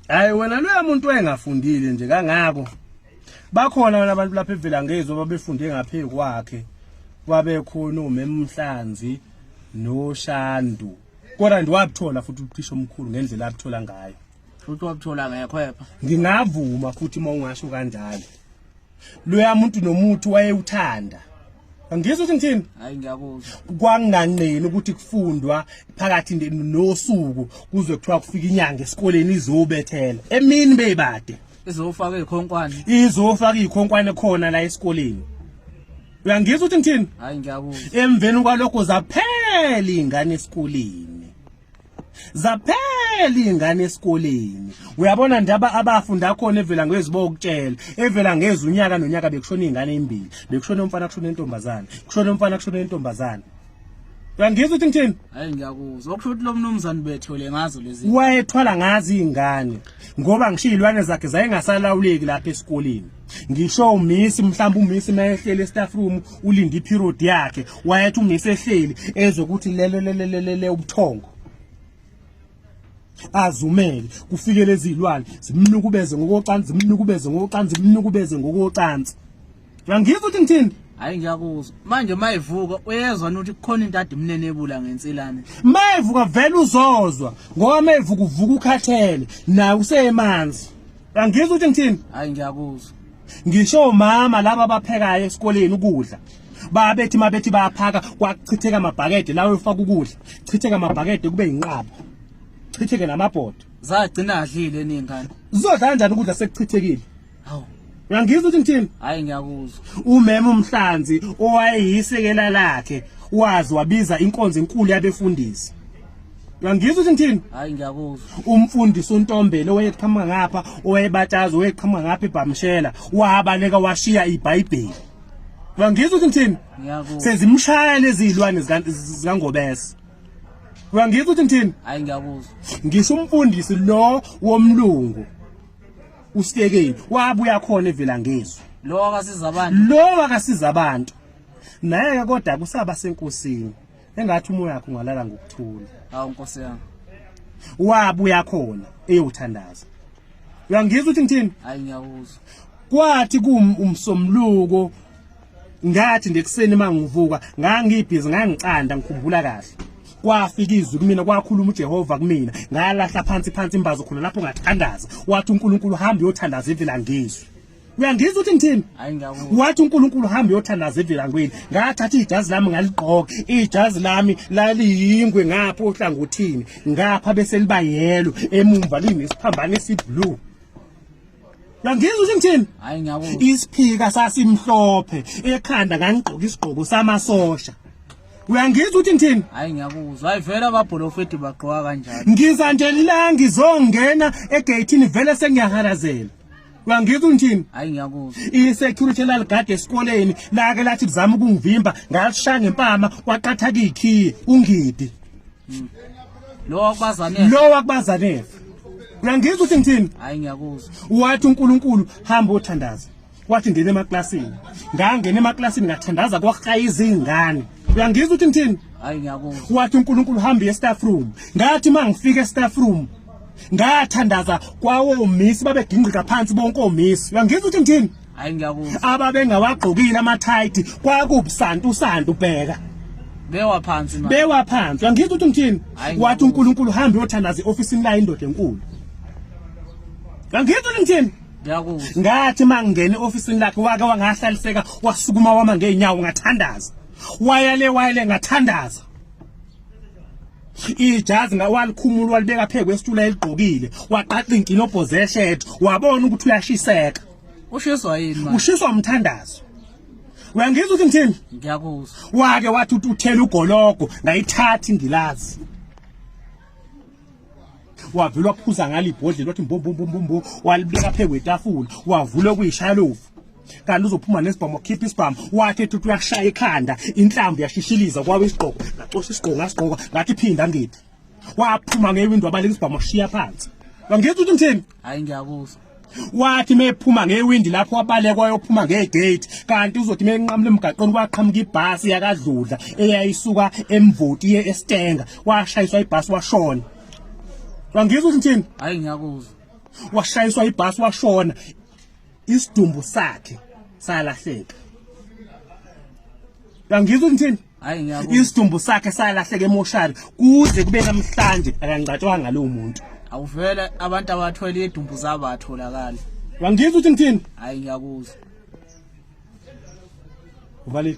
hayi wena loya muntu wayengafundile nje kangako bakhona wena abantu lapha evela ngezwe babefunde ngaphe kwakhe wabekhona umemhlanzi noshandu kodwa ndiwabuthola futhi uthisha omkhulu ngendlela abuthola ngayo futhi wabuthola ngekho epha ngingavuma futhi uma ungasho kanjalo loya muntu nomuthi wayewuthanda angizwa ukuthi ngithini hayi ngiyakuzwa kwanganqeni ukuthi kufundwa phakathi nosuku kuze kuthiwa kufika inyanga esikoleni izobethela emini beyibade izofaka ikhonkwane izofaka ikhonkwane khona la esikoleni uyangizwa ukuthi ngithini hayi ngiyakuzwa emveni kwalokho zaphela ingane esikoleni zaphela izingane esikoleni uyabona ndaba abafunda khona evela ngezibo ukutshela evela ngeza unyaka nonyaka bekushona izingane ezimbili bekushona umfana kushona intombazana kushona umfana kushona intombazana uyangizwa ukuthi ngithini hayi ngiyakuzwa okusho ukuthi lo mnumzane bethole ngazo lezi wayethwala ngazi izingane ngoba ngishiyilwane zakhe zayengasalawuleki lapha esikoleni ngisho umisi mhlawumbe umisi mayehleli estaff room ulinde iperiod yakhe wayethi umisi ehleli ezokuthi lelo lelelele ubuthongo azumele kufike lezi zilwane zimnukubeze ngokocansi zimnukubeze ngokocansi zimnukubeze ngokocansi uyangizwa ukuthi ngithini hayi ngiyakuzwa manje mayivuka uyezwa ukuthi kukhona into ade imnenebula ngensilane mayivuka vele uzozwa ngoba mayivuka uvuka ukhathele naye usemanzi Angizwa ukuthi ngithini? Hayi ngiyakuzwa. Ngisho mama laba abaphekayo esikoleni ukudla. Babethi mabethi bayaphaka kwakuchitheka amabhakede lawo efaka ukudla. Chitheka amabhakede kube inqaba. Chitheke namabhodo. Zagcina adlile ningane. Zodla kanjani ukudla sekuchithekile? Hawu. Uyangizwa ukuthi ngithini? Hayi ngiyakuzwa. Umema umhlanzi owayeyisekela lakhe wazi wabiza inkonzo enkulu yabefundisi. uyangizwa ukuthi ngithini hayi ngiyakuzwa umfundisi untombele owayeqhamuka ngapha owayebatshaza owayeqhamuka ngapha ebhamshela wabaleka washiya ibhayibheli uyangizwa ukuthi ngithini ngiyakuzwa sezimshaya lezi zilwane zikangobese uyangizwa ukuthi ngithini hayi ngiyakuzwa ngisho umfundisi lo womlungu usikekeni wabuya khona evela ngizwe lo akasiza abantu lo akasiza abantu naye ke kodwa kusaba senkosini engathi umoya wakho ungalala ngokuthula hawu nkosi yami wabuya khona eyothandaza uyangizwa ukuthi ngithini hayi ngiyawuzwa kwathi kumsomluko ngathi nje kuseni mangivuka ngangibhizi ngangicanda ngikhumbula kahle kwafika izwi kumina kwakhuluma uJehova kumina ngalahla phansi phansi imbazo khona lapho ngathandaza wathi uNkulunkulu hamba uyothandaza ivela ngizwi uyangizwa ukuthi ngithini wathi uNkulunkulu hamba uyothandaza evilangweni ngathatha ijazi lami ngaligqoka ijazi lami laliyingwe ngapha ohlangothini ngapha bese liba yelo emumva linesiphambane esiblue Uyangizwa ukuthi ngithini? Hayi ngiyabo. Isiphika sasimhlophe ekhanda ngangigqoka isigqoko samasosha. Uyangizwa ukuthi ngithini? Hayi ngiyakuzwa. Hayi vele ababholofethi bagqoka kanjani? Ngiza nje la ngizongena egate ni vele sengiyahalazela. uyangizwa ngithini hayi ngiyakuzwa i-security laligade esikoleni lake lathi kuzama ukungivimba ngalishaya ngempama kwaqatha kiyikhiye ungidi hmm. lo wakubazanele lo wakubazanele uyangizwa ukuthi ngithini hayi ngiyakuzwa wathi unkulunkulu hamba othandaza wathi ngene emaklasini ngangena emaklasini ngathandaza kwahaya izingane uyangizwa ukuthi ngithini hayi ngiyakuzwa wathi unkulunkulu hamba e-staff room ngathi uma ngifika e-staff room ngathandaza kwawomisi babegingqika phansi bonke omisi uyangizwa ukuthi ngithini hayi ngiyakuzwa ababengawagqokile amathayithi kwakubusantu usantu bheka bewa phansi manje bewa phansi uyangizwa ukuthi ngithini wathi uNkulunkulu hamba uyothandaza eofisini la indoda enkulu uyangizwa ukuthi ngithini ngiyakuzwa ngathi mangena eofisini lakhe wake wangahlaliseka wasukuma wama ngeenyawo ngathandaza wayale wayale ngathandaza ijazi ngawalikhumula walibeka phe kwesitula eligqokile waqaqa inkinobho zeshed wabona ukuthi uyashiseka ushiswa yini manje ushiswa umthandazo uyangizwa ukuthi ngithini ngiyakuzwa wake wathi uthela ugologo ngayithatha indilazi wavele waphuza ngalo ibhodlela wathi mbombombombombo walibeka phezu kwetafula wavula okuyishaya lovu kanti uzophuma nesibhamu wakhipha isibhamu wathi ethi uthi uyakushaya ikhanda inhlamvu yashishiliza kwabe isigqoko ngacosha isigqoko ngasigqoka ngathi phinda ngiphi waphuma ngewindi wabaleka isibhamu washiya phansi wangithi uthi ngithini hayi ngiyakuzwa wathi mephuma ngewindi lapho wabalekwa yophuma ngegate kanti uzothi menqamule emgaqweni kwaqhamuka ibhasi yakadludla eyayisuka emvoti ye estenga washayiswa ibhasi washona wangizwa ukuthi ngithini hayi ngiyakuzwa washayiswa ibhasi washona isidumbu sakhe salahleka wangizwa ukuthi ngithini Hayi ngiyabona. Isidumbu sakhe salahleke emoshari kuze kube namhlanje akangcatshwanga lo muntu. Awuvele abantu abathwele idumbu zabo atholakala. Wangizwa ukuthi ngithini? Hayi ngiyakuzwa. Uvalile.